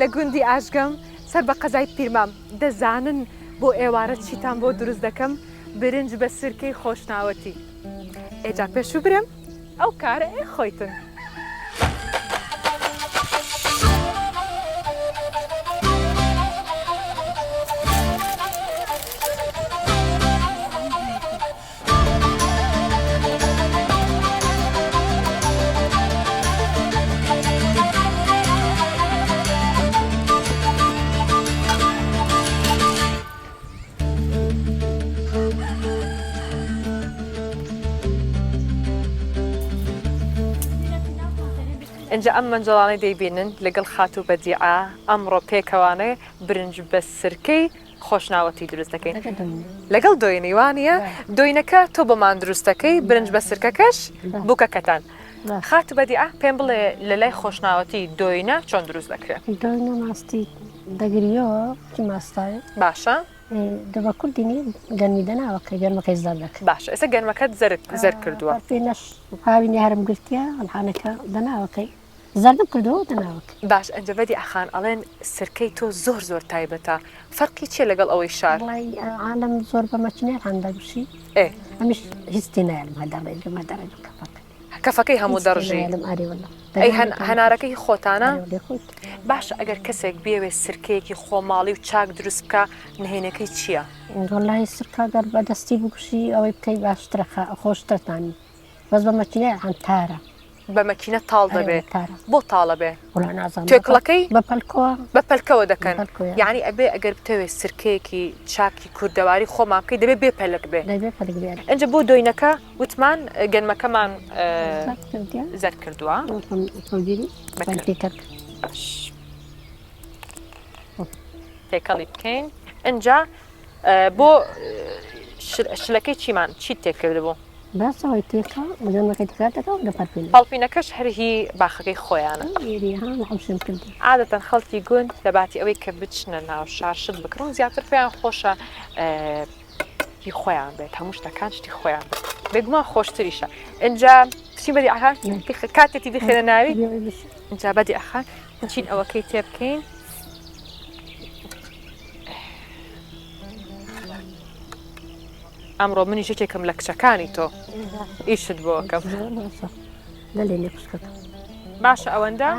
لە گوندی ئاژگەم سەر بە قەزای پیرمام. دەزانن بۆ ئێوارە چیتان بۆ دروست دەکەم؟ برنج بە سرکەی خۆشناوەتی. ئێ جا پێشوو برێم ئەو کارە ئێ خۆیتن. ئینجا ئەم مەنجەڵانەی دەیبینن لەگەڵ خاتوو بەدیعە ئەمڕۆ پێکەوانە برنج بە سرکەی خۆشناوەتی دروست دەکەین لەگەڵ دۆینەی وانە دۆینەکە تۆ بۆمان دروستەکەی برنج بە سرکەکەش بووکەکەتان خات بەدی پێم بڵێ لە لای خۆشناوەتی دۆینە چۆن دروست دەکرێت دۆینە ماستی دەگریەوە ماستای باشە دەبە کوردینی گەرمی دەناوە کە گەرمەکەی زەر دەکە باش ئێستا گەرمەکەت زەرد زەر کردووە پێ نەش هاوی نێهرم گرتە ئەمحانەکە دەناوەکەی زەردم کردووە تە ناوک. باش ئەنجەڤەدی ئاخان ئەڵێن سرکەی تۆ زۆر زۆر تایبەتە فەرقی چیە لەگەڵ ئەوەی شار. وەڵای عالەم زۆر بە مەچنێ هان دەگوشی ئێ. ئەمیش هیچ تێ نایەلم هەر دەڕێ جومە دەڕێ بە کەفەکەی. کەفەکەی هەموو دەڕژی هیچ تێ نایەلم ئاری وەللە. ئەی هەن هەنارەکە هی خۆتانە؟ ئەرێ وەلێ خۆیتی. باشە ئەگەر کەسێک بیەوێ سرکەیەکی خۆماڵی و چاک دروست بکا نهێنێکەی چیە؟ وەللەهی سرکە گەر بە دەستی بگوشی ئەوەی بکەی باشترە خۆشترە تامی. بەس بە مەکینە عەنتارە بە مەکینە تاڵ دەبێ بۆ تاڵە بێ توێکڵەکەی بە پەلکۆ بە پەلکەوە دەکەن یعنی ئەبێ ئەگەر بتەوێت سرکەیەکی چاکی کوردەواری خۆمان بکەی دەبێ بێ پەلک بێ ئەجا بۆ دۆینەکە وتمان گەنمەکەمان زەر کردووە تێکەڵی بکەین ئەجا بۆ شلەکەی چیمان چیت تێکرد بوو باسە وای تێکە بەجان مەکەی تکرار دەکا و دەپەرپێنێ. پەڵپینەکەش هەر هی باخەکەی خۆیانە. ئێری ها لە حوشم کردی. عادەتەن خەڵکی گوند لە باتی ئەوەی کە بچنە ناو شار شت بکڕن زیاتر پێیان خۆشە هی خۆیان بێت هەموو شتەکان شتی خۆیان بێت بێگومان خۆشتریشە ئینجا چی بەدی ئەها کاتێتی دخێنە ناوی ئینجا بەدی ئەخان چین ئەوەکەی تێ بکەین ئەمڕۆ منیش یەکێکم لە کچەکانی تۆ ئیشت بۆکەم لەێ نێخشکەکە باشە ئەوەندە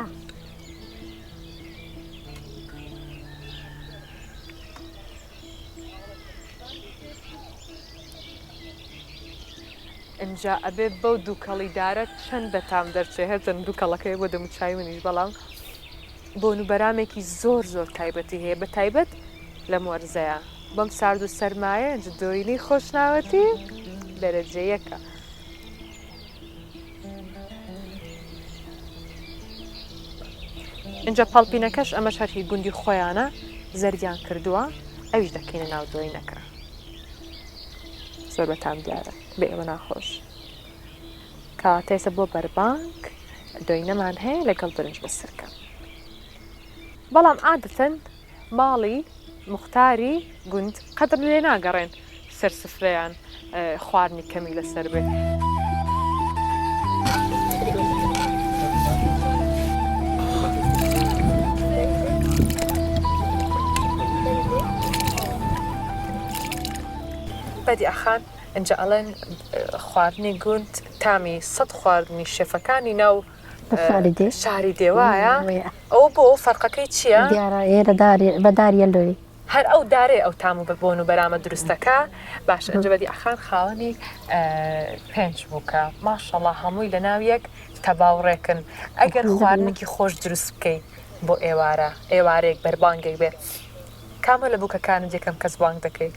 ئەجا ئەبێ بەو دووکەڵی دارە چەند بەتام دەرچێ هەرچەند دووکەڵەکەی بۆ دەموچای منیش بەڵام بۆن و بەرامێکی زۆر زۆر تایبەتی هەیە بە تایبەت لەم وەرزەیە بەم سارد و سەرمایە جدۆینی خۆشناوەتی دەرەجەیەکە. اینجا پاڵپینەکەش ئەمە شەرحی گوندی خۆیانە زەریان کردووە ئەویش دەکەینە ناو دۆینەکە زۆر بەتام دیارە بە ئێوە ناخۆش کەواتەیسە بۆ بەربانگ دۆینەمان هەیە لەگەڵ برنج بە سرکە بەڵام عادەتەن ماڵی مختاری گوند قەدر لێ ناگەڕێن سەر سفرەیان خواردنی کەمی لەسەر بێ. بەدیعخان ئینجا ئەڵێن خواردنی گوند تامی سەد خواردنی شێفەکانی ناو شاری دێوایە ئەو بۆ فەرقەکەی چییە؟ بەداریە لۆی هەر ئەو دارێ ئەو تام و بەبوون و بەرامە دروستەکە باش ئەنجبەدی ئەخان خاوەنی پێنج بووکە ماشەڵا هەمووی لە ناویەک تەباوڕێکن ئەگەر خواردنێکی خۆش دروست بکەیت بۆ ئێوارە ئێوارێک بەربانگێک بێت کامە لە بووکەکانت یەکەم کەس بانگ دەکەیت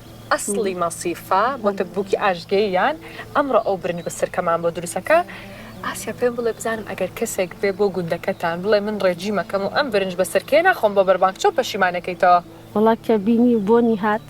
ئەسڵی مەسیفە بۆتە بووکی ئاشتگەییان ئەمڕۆ ئەو برنج بە سرکەمان بۆ دروست ئەکا ئاسیا پێم بڵێ بزانم ئەگەر کەسێک بێ بۆ گوندەکەتان بڵێ من ڕێجیم ئەکەم و ئەم برنج بە سرکەیە ناخۆم بۆ بەربانگ چۆن پەشیمان ئەکەیتەوە؟ وەڵا کە بینی و بۆنی هات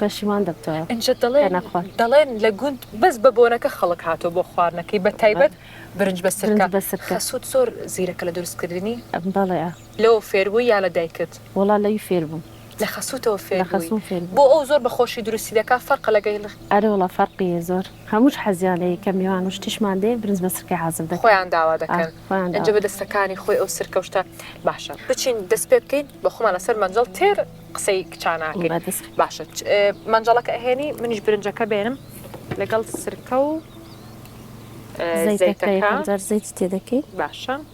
پەشیمان دەبتەوە ئینجا دەڵێن کەنە خوارد. دەڵێن لە گوند بەس بە بۆنەکە خەڵک هاتووە بۆ خواردنەکەی بە تایبەت برنج بە سرکە برنج بە سرکە. خەسووت زۆر زیرەکە لە دروست کردنی؟ بەڵێ. لەوە فێربووی یا لە دایکت؟ وەڵا لەوی فێربووم. لە خەسوتەوە فێر بووی. بۆ ئەو زۆر بە خۆشی دروستی دەکا فەرقە لەگەیل. ئەرێ وەڵا فەرقی یە زۆر هەمووش حەزیان لێی کە میوان و شتیشمان دێ برنج بە سرکەی حازر دەکەن. خۆیان داوا دەکەن ئنجا بە دەستەکانی خۆی ئەو سرکە و شتە باشە بچین دەست پێ بکەین بە خۆمان لەسەر مەنجەڵ تێر قسەی کچان ناکەین باشە مەنجەڵەکە ئەهێنی منیش برنجەکە بێنم لەگەڵ سرکە و زەیتەکە زەیت تێ دەکەی باشە.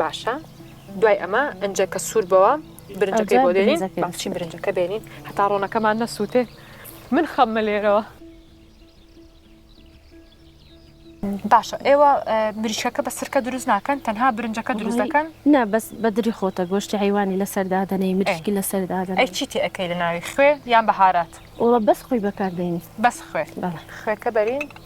باشە دوای ئەمە ئەنجەکە سوور بەوە برنجەکەی بۆ دێنین بەچین برنجەکە بێنین هەتا ڕۆنەکەمان نەسووتێ من خەممە لێرەوە باشە ئێوە مریشەکە بە سرکە دروست ناکەن تەنها برنجەکە دروست دەکەن نا بەس بەدری خۆتە گۆشتی حیوانی لەسەردادنەی مریشکی لەسەردادە ئەی چیتی ئەەکەی لە ناوی خوێ یان بەهارات ئەوە بەس خۆی بەکاردێنی بەس خوێ خوێکە بەرین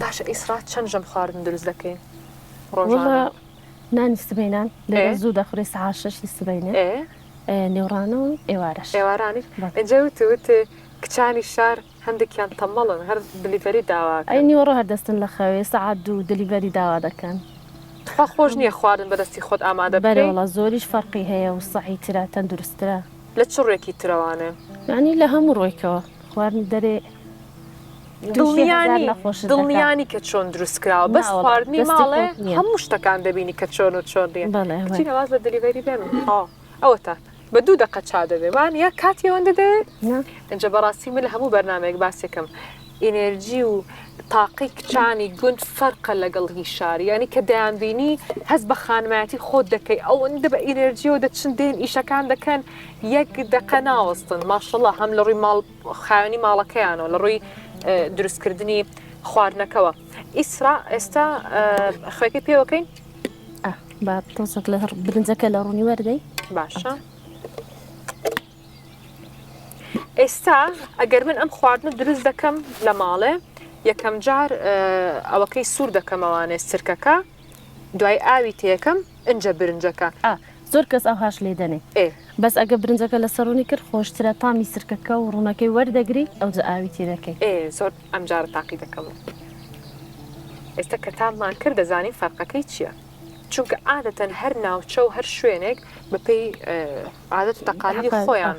باشە ئیسرا چەند ژەم خواردن دروست دەکەین ڕۆژانە نانی سبینان لێرە زوو دەخورێ سعات شەشی سبینێ نێوڕانە و ئێوارەش ئێوارانی ئەجێ وت وت کچانی شار هەندێکیان تەمەڵن هەر دلیڤەری داوا ئەی نیوەڕۆ هەردەستن لە خەوێ سعات دوو دلیڤەری داوا دەکەن تخوا خۆش نییە خواردن بەدەستی خۆت ئامادە بەرەوەڵە زۆریش فەرقی هەیە و سەعی تررا تەندروسترا لە چ ڕێکی ترەوانێ یعنی لە هەموو ڕۆیکەوە خواردن دەرێ دڵنیانی کە چۆن دروست کراوە بەس خواردنی ماڵێ هەموو شتەکان دەبینی کە چۆن و چۆن دێن بەڵێواز لە دەلیڤری بێن ئەوەتە بە دوو دقە چا دەبێمان یا کاتی ئەوەندە دەێ ئەجە بەڕاستی من لە هەموو بەرنمێک باسێکم ئینێرجی و تاقی کچانی گوند فەرقە لەگەڵ هی شاری ینی کە دەیانبینی هەست بە خانمایەتی خۆت دەکەی ئەوەندە بە ئینێرجیەوە دەچن دێن ئیشەکان دەکەن یەک دەقە ناوەستن ماشەڵە هەم لە ڕووی ماڵ خاوەنی ماڵەکەیانەوە لە ڕووی دروستکردنی خواردنەکەەوە ئیسرا ئێستا خوێکی پێوەکەین با تۆزەک لە برنجەکە لە ڕوونی وەردەی باشە ئێستا ئەگەر من ئەم خواردنە دروست دەکەم لە ماڵێ یەکەم جار ئەوەکەی سوور دەکەمەوانێ سرکەکە دوای ئاوی تێکەم ئنجە برنجەکە. ئا زۆر کەس ئەوهاش لێ دەنێ ئێ. بەس ئەگەر برنجەکە لەسەر ڕوونی کرد خۆشترە تامی سرکەکە و ڕوونەکەی وەردەگری ئەوجە ئاوی تێ دەکەی. ئێ زۆر ئەمجارە تاقی دەکەمەوە ئێستا کە تاممان کرد دەزانین فەرقەکەی چیە چونکە عادەتەن هەر ناوچە و هەر شوێنێک بەپێی عادەت و تەقالیدی خۆیان.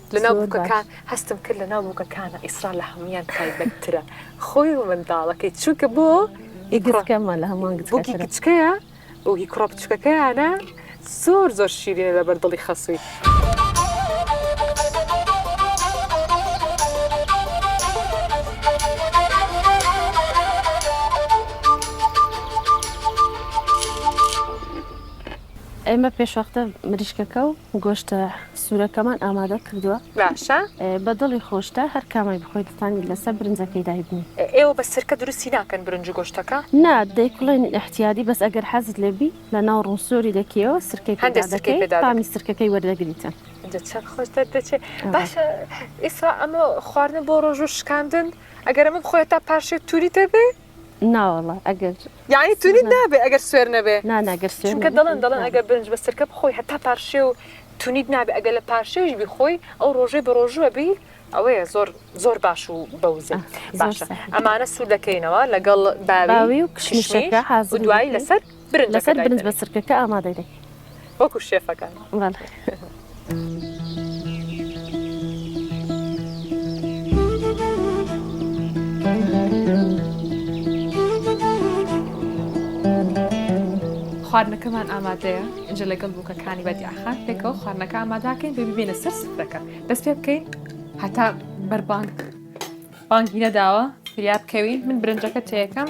لەناو بوکەکان هەستم کرد لەناو بوکەکانە ئیسرا لە هەمویان تایبەتترە خۆی و منداڵەکەی چونکە بۆ ئیگڕەکەمە لە هەمان بوکی کچکەیە و هی کوڕە بچکەکەیانە زۆر زۆر شیرینە لەبەر دڵی خەسووی. ئێمە پێشوەختە مریشکەکە و گۆشتە سورەکەمان ئامادە کردوە. باشە. بە دڵی خۆشتە هەر کامەی بخۆی دەتانی لەسەر برنجەکەی دایبنێ. ئێوە بە سرکە دروستی ناکەن برنج و گۆشتەکە؟ نا دەیکوڵێن ئیحتیادی بەس ئەگەر حەزت لێ بی لە ناو ڕوو سۆری دەکیەوە سرکەی پێ دادەکەی. هەندێ سرکەی پێ دادەکەی. تامی سرکەکەی وەردەگریتن. ئینجا چەند خۆش دەردەچێ. باشە ئیسرا ئەمە خواردنە بۆ ڕۆژوو شکاندن ئەگەر ئەمە بخۆی هەتا پارشێو توری تێ بێ؟ ناوەڵا ئەگەر یعنی تونیت نابێ ئەگەر سوێر نەبێ نانا گەر سوێر چونکە دەڵێن دەڵێن ئەگەر برنج بە سرکە بخۆی هەتا پارشێ و تونیت نابێ ئەگەر لە پارشێویش بخۆی ئەو ڕۆژەی بە ڕۆژوە بی ئەوەیە زۆر زۆر باش و بەوزە باشە ئەمانە سوور دەکەینەوە لەگەڵ باوی و کشمشەکە حاز دوایی لەسەر برنجەکە دایدەنێین. لەسەر برنج بە سرکەکە ئامادەی دەکەین. وەکو شێفەکان. خواردنەکەمان ئامادەیە. ئینجا لەگەڵ بووکەکانی بەدیعەخان پێکەوە خواردنەکە ئاماداکەین بێ ببینە سەر سفرەکە. دەست پێ بکەین هەتا بەربانگ بانگی نەداوە فریا بکەوین من برنجەکە تێکەم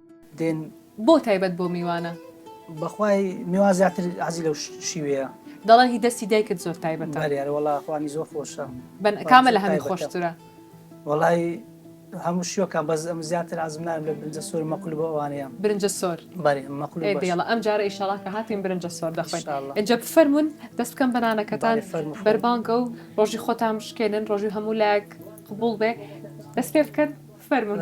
دێن. بۆ تایبەت بۆ میوانە. بەخوای میوان زیاتر حەزی لەو شیوەیە. دەڵێن هی دەستی دایکت زۆر تایبەتە. بەلی ئەرێ وەڵا خوانی زۆر خۆشە. بەن کامە لە هەمی خۆشترە. وەڵای هەموو شیوەکان بەس ئەم زیاتر عەزم نارم لە برنجە سۆر مەقول بۆ ئەوانەیە. برنجە سۆر. بەلی مەقول باش. ئێ بێڵە ئەم جارە ئیشەڵا کە هاتین برنجە سۆر دەخۆین. ئیشاڵا. ئینجا بفەرموون دەست بکەم بە نانەکەتان. بەلی فەرموو خوێن. بەربانگە و ڕۆژی خۆتان بشکێنن ڕۆژی هەموو لایەک قبوڵ بێ دەست پێ بکەن فەرموون.